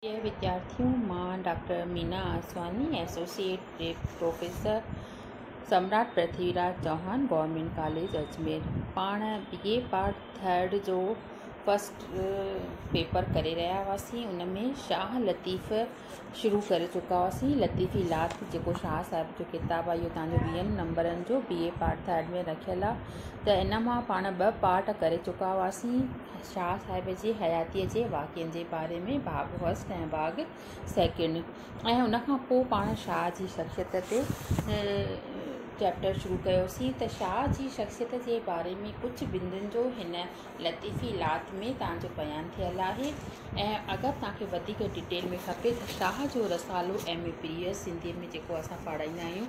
جي وديارٿين مان doctor Meena Aswani, associate dean professor Samrat Prithvi Raj Chauhan, government college Ajmer پاڻ بي اي پارٽ ٿرڊ جو فرسٽ پيپر ڪري رهيا هئاسين ان ۾ شاهه لطيف شروع ڪري چڪا هئاسين لطيفي لات جيڪو شاهه صاحب جو ڪتاب آهي اهو تنهنجو ويهن نمبرن جو بي اي پارٽ ٿرڊ ۾ رکيل آهي ته ان مان پاڻ ٻه پارٽ ڪري چڪا هئاسين شاهه صاحب جي حياتيء جي واقعن جي باري ۾ باغ فرسٽ ۽ باغ سيڪنڊ ۽ ان کان پوء پاڻ شاهه جي شخصيت تي چيپٽر شروع ڪيوسين ته شاهه جي شخصيت جي باري ۾ ڪجهه بندن جو هن لطيفي لات ۾ توهان جو بيان ٿيل آهي ۽ اگر توهان کي وڌيڪ ڊٽيل ۾ کپي ته Shah jo Risalo M A press سنڌيء ۾ جيڪو اسان پڙهائيندا آهيون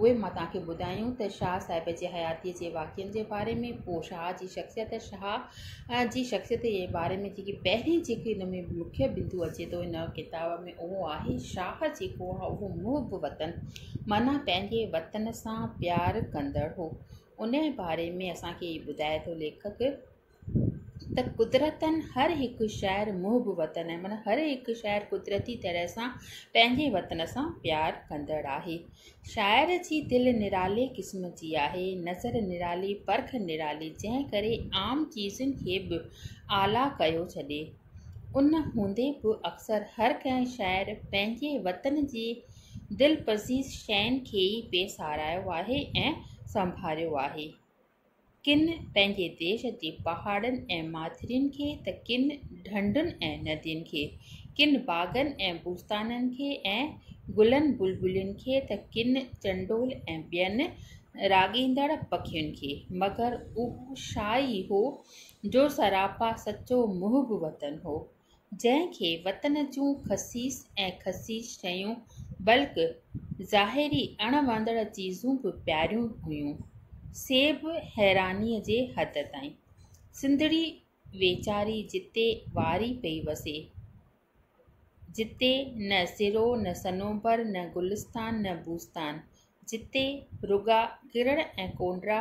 اهي مان توهان کي ٻڌايون ته شاهه صاحب جي حياتيء جي واقعن جي باري ۾ پوء شاهه جي شخصيت شاهه جي شخصيت جي باري ۾ جيڪي پهرين جيڪي ان ۾ مکيه بندو اچي ٿو ان ڪتاب ۾ اهو آهي شاهه جيڪو آهي اهو محب وطن معنيٰ پنهنجي وطن سان پيار ڪندڙ هو انهيء باري ۾ اسان کي ٻڌائي ٿو ليکڪ ته قدرتن هر هڪ شهر محب وطن آهي معنيٰ هر هڪ شهر قدرتي طرح سان پنهنجي وطن سان پيار ڪندڙ آهي شاعر جي دل نرالي قسم جي آهي نظر نرالي پرک نرالي جنهن ڪري عام چيزن کي به اعليٰ ڪيو ڇڏي ان هوندي به اڪثر هر ڪنهن شاعر پنهنجي وطن جي دلپذير شين کي ئي پئي ساراهيو آهي ۽ سنڀاريو آهي ڪن پنهنجي ديش جي پهاڙن ۽ ماٿرين کي ته ڪن ڍنڍن ۽ ندين کي، ڪن باغن ۽ بوستانن کي ۽ گلن بلبلين کي ته ڪن چنڊول ۽ ٻين راڳيندڙ پکين کي. مگر اهو شاهه ئي هو، جو سراپا سچو محب وطن هو. جنهن کي وطن جون خسيس ۽ خسيس شيون بلڪ ظاهري اڻ وڻندڙ چيزون به پياريون هيون سي به حيراني جي حد تائين. سنڌڙي ويچاري جتي واري پئي وسي، جتي نه سرو نه صنوبر نه گلستان نه بوستان، جتي رڳا ڪرڙ ۽ ڪونڊرا،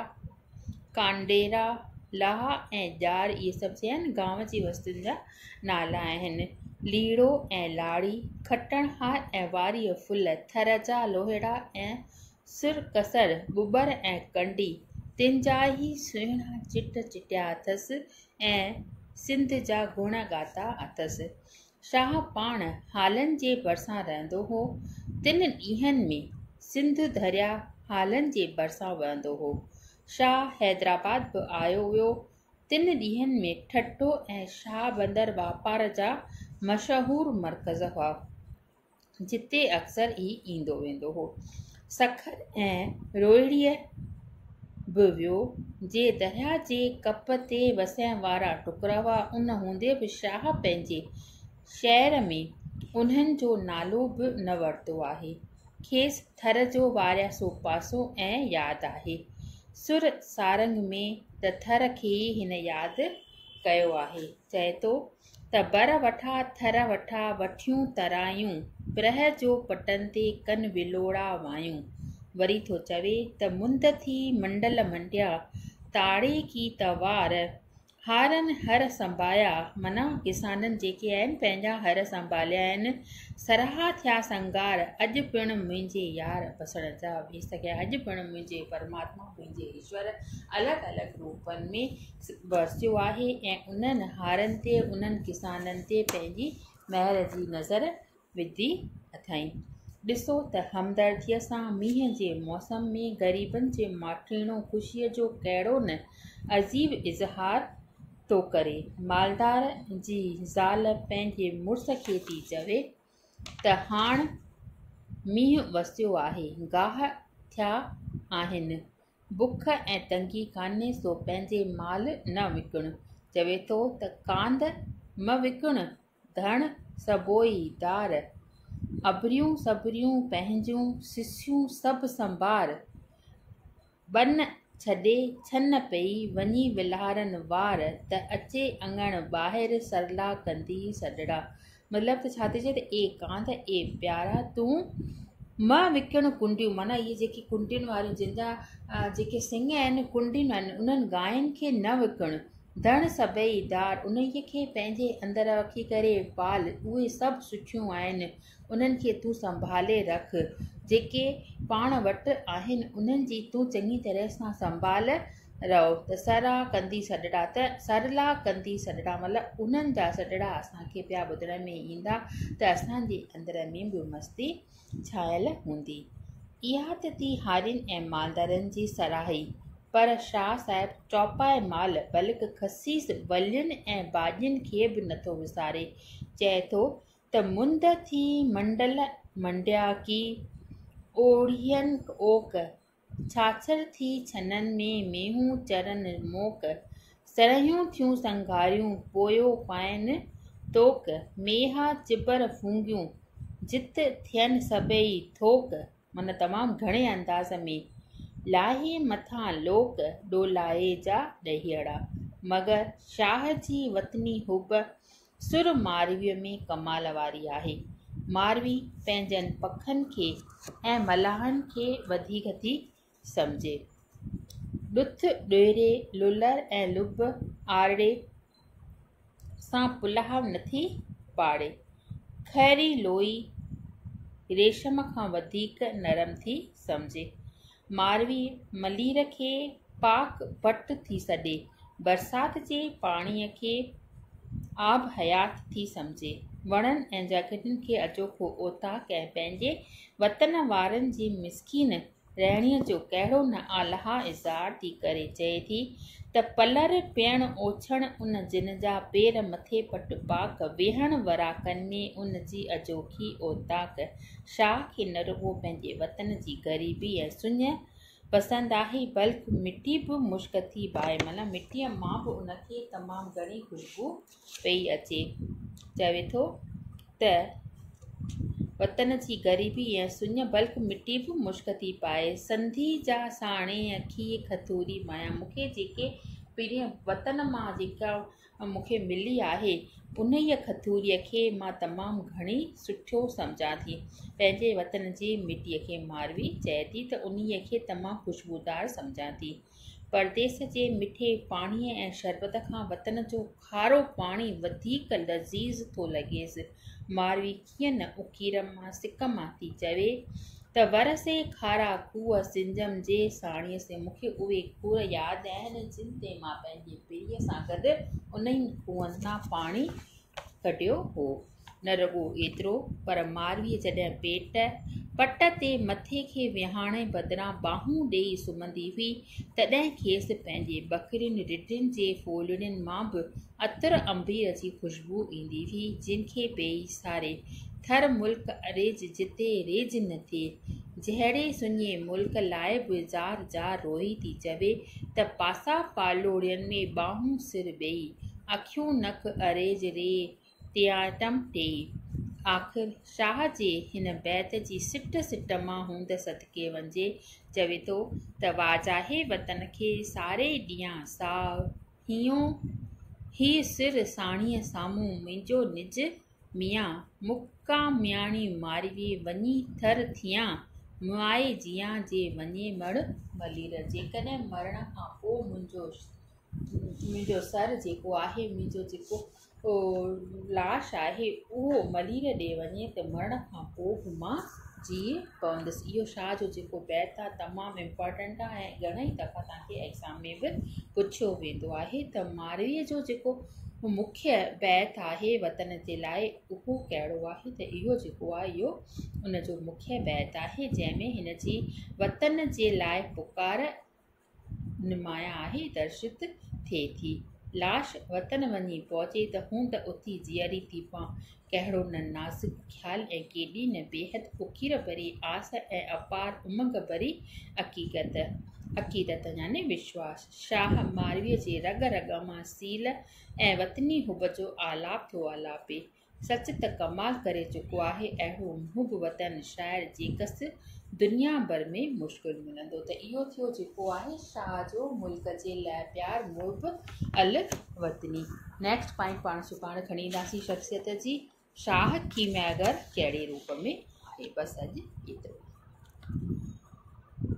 ڪانڊيرا، لاها ۽ ڄار اهي سڀ چئن گانء جي وستين جا نالا آهن. ليڙو ۽ لاڙي، کٽڻهار ۽ واريء ڦل، ٿر جا لوهيڙا ۽ سرڪسر، ٻٻر ۽ ڪنڊي، تن جا ئي سهڻا چٽ چٽيا اٿس ۽ سنڌ جا گڻ ڳاتا اٿس. شاهه پاڻ هالن جي ڀرسان رهندو هو. تن ڏينهن ۾ سنڌ درياء هالن جي ڀرسان وهندو هو. شاهه حيدرآباد به آيو ويو. تن ڏينهن ۾ ٺٽو ۽ شاهه بندر واپار جا مشهور مرڪز هئا. جتي اڪثر ئي ايندو ويندو هو. سکر ۽ روهڙيء به ويو. جي درياء جي ڪپ تي وسيم وارا ٽڪرا هئا، ان هوندي به شاهه پنهنجي شعر ۾ انهن جو نالو به نه ورتو آهي. کيس ٿر جو وارياسو پاسو ائين ياد آهي. سر سارنگ ۾ ته ٿر کي ئي هن ياد ڪيو آهي. چئي ٿو. ته بر وٺا ٿر وٺا وٺيون ترايون، پرهه جو پٽن تي ڪن ولوڙا وايون. وري ٿو چوي ته مند ٿي منڊل منڊيا، تاڙي ڪي ته وار، هارن هر سنبايا، معنيٰ ڪسانن جيڪي آهن پنهنجا هر سنباليا آهن، سرها ٿيا سنگار، اڄ پڻ منهنجي يار وسڻ جا ويس ڪيا، اڄ پڻ منهنجي پرماتما منهنجي ايشور الڳ الڳ روپن ۾. ورسيو آهي ۽ انهن هارن تي انهن ڪسانن تي پنهنجي مهر جي نظر وڌي اٿائين. ڏسو ته همدرديء سان مينهن جي موسم ۾ غريبن جي ماٺيڻو خوشيء جو ڪهڙو نه عجيب اظهار ٿو ڪري. مالدار جي زال پنهنجي مڙس کي ٿي چوي. ته هاڻ مينهن وسيو آهي، گاهه ٿيا آهن، بک ۽ تنگي ڪانهي سو پنهنجي مال نه وڪڻ. چوي ٿو ته ڪانڌ مه وڪڻ، ڌڻ سڀوئي ڌار، اڀريون سڀريون پنهنجون، سسيون سڀ سنڀار، ٻن ڇڏي ڇن پئي وڃي ولهارن وار ته اچي اڱڻ ٻاهر سرلا ڪندي سڏڙا مطلب ته ڇا ٿي چئي ته اي ڪانڌ اي پيارا تون مه وڪڻ ڪنڊيون معنيٰ اهي جيڪي ڪنڊين واريون جن جا جيڪي سنگ آهن ڪنڊين آهن انهن گاين کي نه وڪڻ ڌڻ سڀئي ڌار انهيء کي پنهنجي اندر رکي ڪري پال اهي سڀ سٺيون آهن انهن کي تون سنڀالي رک، جيڪي پاڻ وٽ آهن، انهن جي تون چڱي طرح سان سنڀال رهو ته سرلا ڪندي سڏڙا ته سرلا ڪندي سڏڙا مطلب انهن جا سڏڙا اسان کي پيا ٻڌڻ ۾ ايندا ته اسان جي اندر ۾ به مستي ڇانيل هوندي. اها ته ٿي هارين ۽ مالدارن جي سراهي، پر شاهه صاحب چوپائي مال بلڪ خسيس ولين ۽ ڀاڄين کي به نٿو وساري، چئي ٿو ته مند ٿي منڊل منڊيا ڪي، اوڙين اوڪ، ڇاڇر ٿي ڇنن ۾، مينهون چرن موڪ، سرهيون ٿيون سنگهاريون، پويو پائين توڪ، ميها چٻر ڦونگيون، جت ٿين سڀئي ٿوڪ، معنيٰ تمام گهڻي انداز ۾، لاهي مٿان لوڪ، ڏولائي جا ڏهيئڙا، مگر شاهه جي وطني حب، سر مارويء ۾ ڪمال واري آهي. ماروي پنهنجن پکن کي ۽ ملاحن کي وڌيڪ ٿي سمجهي. ڏٿ ڏيري لولر ۽ لب آرڙي سان پلاهه نٿي پاڙي. خيري لوئي ريشم کان وڌيڪ نرم ٿي سمجهي. ماروي ملير کي پاڪ وٽ ٿي سڏي، برسات جي پاڻيء کي آب حيات ٿي سمجهي، وڻن ۽ جهڳڙن کي اجوکو اوطاق ۽ پنهنجي وطن وارن جي مسڪين رهڻيء جو ڪهڙو نه آلهه اظهار ٿي ڪري، چئي ٿي ته پلر پيڻ اوڇڻ ان جن جا پير مٿي پٽ پاڪ، ويهڻ وراڪن ۾ ان جي اجوکي اوطاق، شاهه کي نه رڳو پنهنجي وطن جي غريبي ۽ سڃ پسند آهي، بلڪ مٽي به مشڪ ٿي باهي، معنيٰ مٽيء مان به ان کي تمام گهڻي خوشبو پئي اچي. چوي ٿو ته، وطن جي غريبي ۽ سڃ، بلڪ مٽي به مشڪ ٿي پائي، سنڌي جا ساڻيهه کيء کٿوري مايان، مون کي جيڪي پرين وطن مان جيڪا مون کي ملي آهي، انهيء کٿوريء کي مان تمام گهڻي سٺو سمجهان ٿي. پنهنجي وطن جي مٽيء کي ماروي چئي ٿي ته انهيء کي تمام خوشبودار سمجهان ٿي. پرديس جي مٺي پاڻيء ۽ شربت کان وطن جو کارو پاڻي وڌيڪ لذيذ ٿو لڳيس. ماروي ڪيئن نه اڪير مان سڪ مان ٿي چوي ته ور سي کارا کوهه سنجم جي ساڻيهه سي مون کي اهي کوهه ياد آهن جن تي مان پنهنجي پيء سان گڏ انهن کوهن مان پاڻي ڪڍيو هو نه رڳو ايترو پر ماروي جڏهن پيٽ پٽ تي مٿي کي ويهاڻ بدران ٻانهون ڏيئي سمهندي هئي تڏهن کيس پنهنجي ٻڪرين رڍين جي ڦولڙين مان به عطر انبيء جي خوشبو ايندي هئي، جنهن کي پيئي ساري ٿر ملڪ اريج جتي ريج نه ٿئي، جهڙي سڃي ملڪ لاء به زار زار روئي ٿي چوي ته پاسا پاڙولين ۾ ٻانهون سر ٻيئي، اکيون نڪ اريج ري ٽياٽم ٽيئي. آخر شاهه جي هن بيت جي سٽ سٽ مان هوند صدقي وڃي چوي ٿو ته واجاهي وطن کي ساري ڏيان ساهه، هيون هي سر ساڻيهه سامهون منهنجو نج ميان مقامياڻي ماروي وڃي ٿر ٿيان مائي جيان جي وڃي مڙ ملير جيڪڏهن مرڻ کان پوء منهنجو سر جيڪو آهي منهنجو جيڪو لاش آهي اهو ملير ڏي وڃي ته مرڻ کان پوء به مان جيئي پوندس اهو شاهه جو جيڪو بيت آهي تمام امپورٽنٽ آهي ۽ گهڻيئي دفعا تهانکي ايگزام ۾ به پڇيو ويندو آهي ته ماروي جو جيڪو مکيه بيت آهي وطن جي لاء اهو ڪهڙو آهي ته اهو جيڪو آهي اهو ان جو مکيه بيت آهي جنهن ۾ هن جي وطن جي لاء پڪار نمايان آهي درشت ٿئي ٿي. لاش وطن وڃي پهچي ته هون ته اٿي جيئري ٿي پوان. ڪهڙو نه نازڪ خيال ۽ ڪيڏي نه بيحد فقير ڀري آس ۽ اپار امنگ ڀري عقيدت. عقيدت يعني وشواس. شاهه مارويء جي رڳ رڳ مان سيل ۽ وطني حب جو آلاپ ٿو آلاپي. سچ ته ڪمال ڪري چڪو آهي اهڙو محب وطن شاعر جيڪس دنيا ڀر ۾ مشڪل ملندو ته اهو ٿيو جيڪو آهي شاهه جو ملڪ جي لاء پيار محب الوطني نيڪسٽ پوائنٽ پاڻ سڀاڻ کڻي اينداسين شخصيت جي شاهه ڪيمياگر ڪهڙي روپ ۾ آهي بس اڄ ايترو